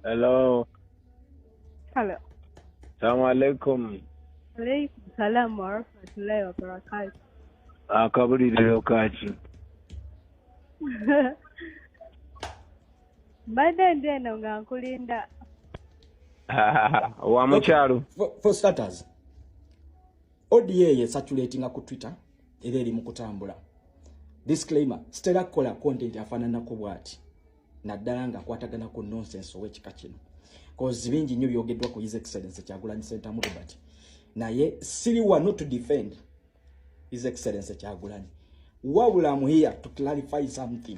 Hello. Hello. Salamu alaikum. Alaikum salam wa rahmatullahi wa barakatuh. Akabuliriro kaki. mbadde ndi eno nga nkulinda wa mukyalo for starters oda ye saturatinga ku twitter era eri mu kutambula disclaimer sitera kukola content afaananako bwati naddala nga akwatagana ku nonsense owekika kino kozi bingi nnyo byogeddwa ku his excellence kyagulanyi sentamu robert naye siri wano to defend his excellence kyagulanyi wabula am here to clarify something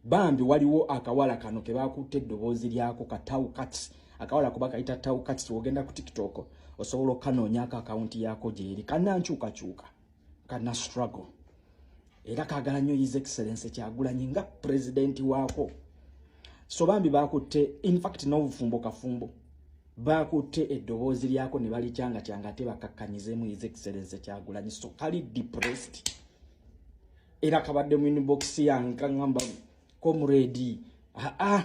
bambi waliwo akawala kano kebakutte eddoboozi lyako ka tau cats akawala kuba kayita tau cats ogenda ku tiktok osobola okukanoonyako akawunti yaako gyeri kanankyukakyuka kana struggle era kagala nnyo his excellence kyagulanyi nga pulezidenti waako so bambi bakutte infact n'obufumbo kafumbo bakutte eddoboozi lyako ne balikyanga kyanga ate bakakkanyizeemu his excellence kyagulanyi so kali depressed era kabadde mu inibokisi yange kaŋamba komuredi aa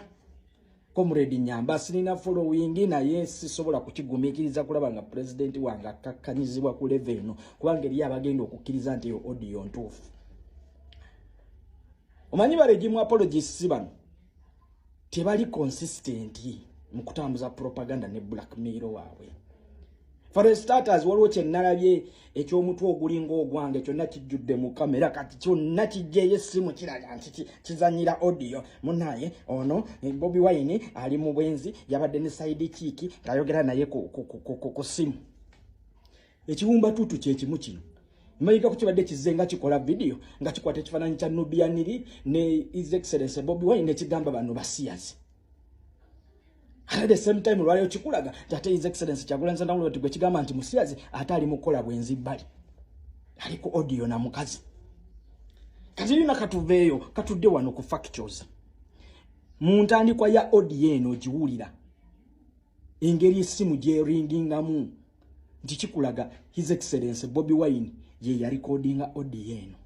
komuredi nyamba sirina followingi naye sisobola kukigumikiriza kulaba nga pulezidenti wange akkakkanyizibwa ku leve eno kubanga eriyo abagenda okukkiriza nti eyo odiyo ntuufu omanyi balegimu apologisi bano tebali consistent mu kutambuza propaganda ne blackmail waabwe for a starters waliwo kye nnalabye eky'omutwe ogulinga ogwange kyonna kijjudde mu kamera kati kyonna kijjeyo essimu kiraga nti kizanyira audio munaye ono eh, bobi wine ali mu bwenzi yabadde ne saidi kiiki ng'ayogera naye ku simu ekiwumba tutu kyekimu kino mmayiga ku kibadde kizze nga kikola vidiyo nga kikwata ekifaananyi kya nubianiri ne is excellence bobi wine nekigamba bano basiyazi at the same time olwaleero kikulaga nti ate is excellence kyagulanzanawulo ti gwe kigamba nti musiyazi ate ali mu kukola bwenzi bbali ali ku odiyo na mukazi kati yina katuveeyo katudde wano ku factures mu ntandikwa ya odiyo eno ogiwulira engeri essimu gyeringingamu nti kikulaga his excellence bobi wine ye yalikodinga odi eno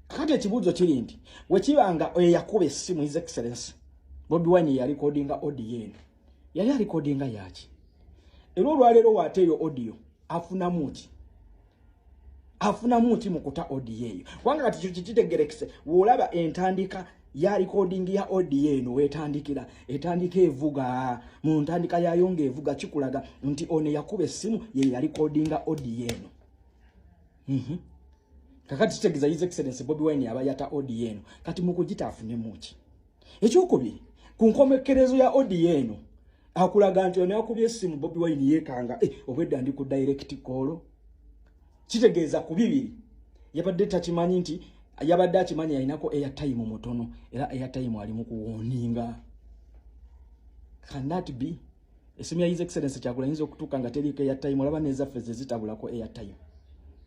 kati ekibuuzo kiri nti wekiba nga eyakuba essimu his excellence bobi wine yeyalikodinga odi eno yali alikodinga yaki era olwaleero waateeyo odio afunamu ki afunamu nti mukuta odiyo eyo kubanga kati kyo kikitegerekese woolaba entandika ya recording ya odiyo eno wetandikira etandika evuga mu ntandika yayo nga evuga kikulaga nti ono yakuba essimu ye ya recordinga odiyo eno mm -hmm. kakati kitegeza his excellence bobi wine yaba yata odiyo eno kati mukugita afunemu ki ekyokubiri ku nkomekerezo ya odiyo eno akulaga nti ono yakubye essimu bobi wine yeekanga eh, obwedda ndi ku direct koolo kitegeeza ku bibiri yabadde takimanyi nti yabadde akimanyi yalinako eyatayimu mutono era eyatayimu ali mu kuwoninga cannot be esimu ya his excellence kyagula yinza okutuuka nga teriiko eyatayimu olaba nezaffe zezitabulako eyatayimu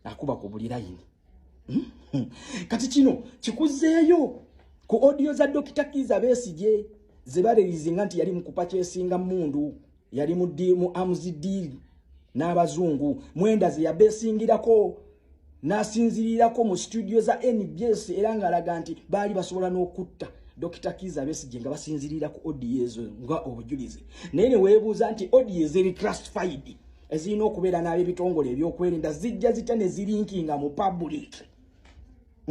akuba ku buli layini hmm? Hmm. kati kino kikuzeeyo ku odiyo za dokita kiiza besigye zebalerizinga nti yali mukupa kyesinga mundu yali mu amuzi diili n'abazungu mwenda zeyabesingirako nasinzirirako mu studio za nbs era ng'alaga nti baali basobola n'okutta Dr. Kiza Besigye nga basinzirira ku audio ezo nga obujulizi naye ne weebuuza nti audio zeri classified ezirina okubeera n'ab'ebitongole ebyokwerinda zijja zitya ne zirinkinga mu public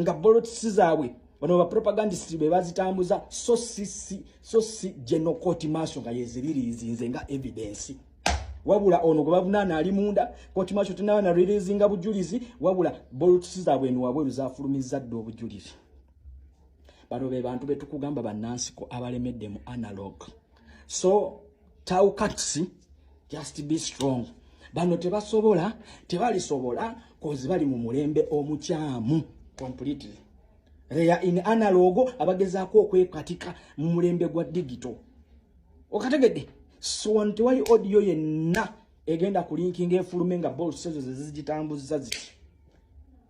nga bolotisi zaabwe bano bapropagandist be bazitambuza so sisi so si general court maaso nga yeziririizinze nga evidensi wabula ono gwe bavunaana ali munda court maaso tenaba na ririizinga bujulizi wabula bolotisi zaabwe eno wabweru zafulumizza dda obujulizi bano be bantu betukugamba bannansi ko abalemedde mu analog so taukats just be strong bano tebasobola tebalisobola kozi bali mu mulembe omukyamu completely reya in analogo abagezaako okwekatika mu mulembe gwa digito okategedde siwantu tewali audio yenna egenda kulinkinga efulume nga bolsezo zezigitambuzza ziti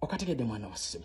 okategedde mwana wa ssimu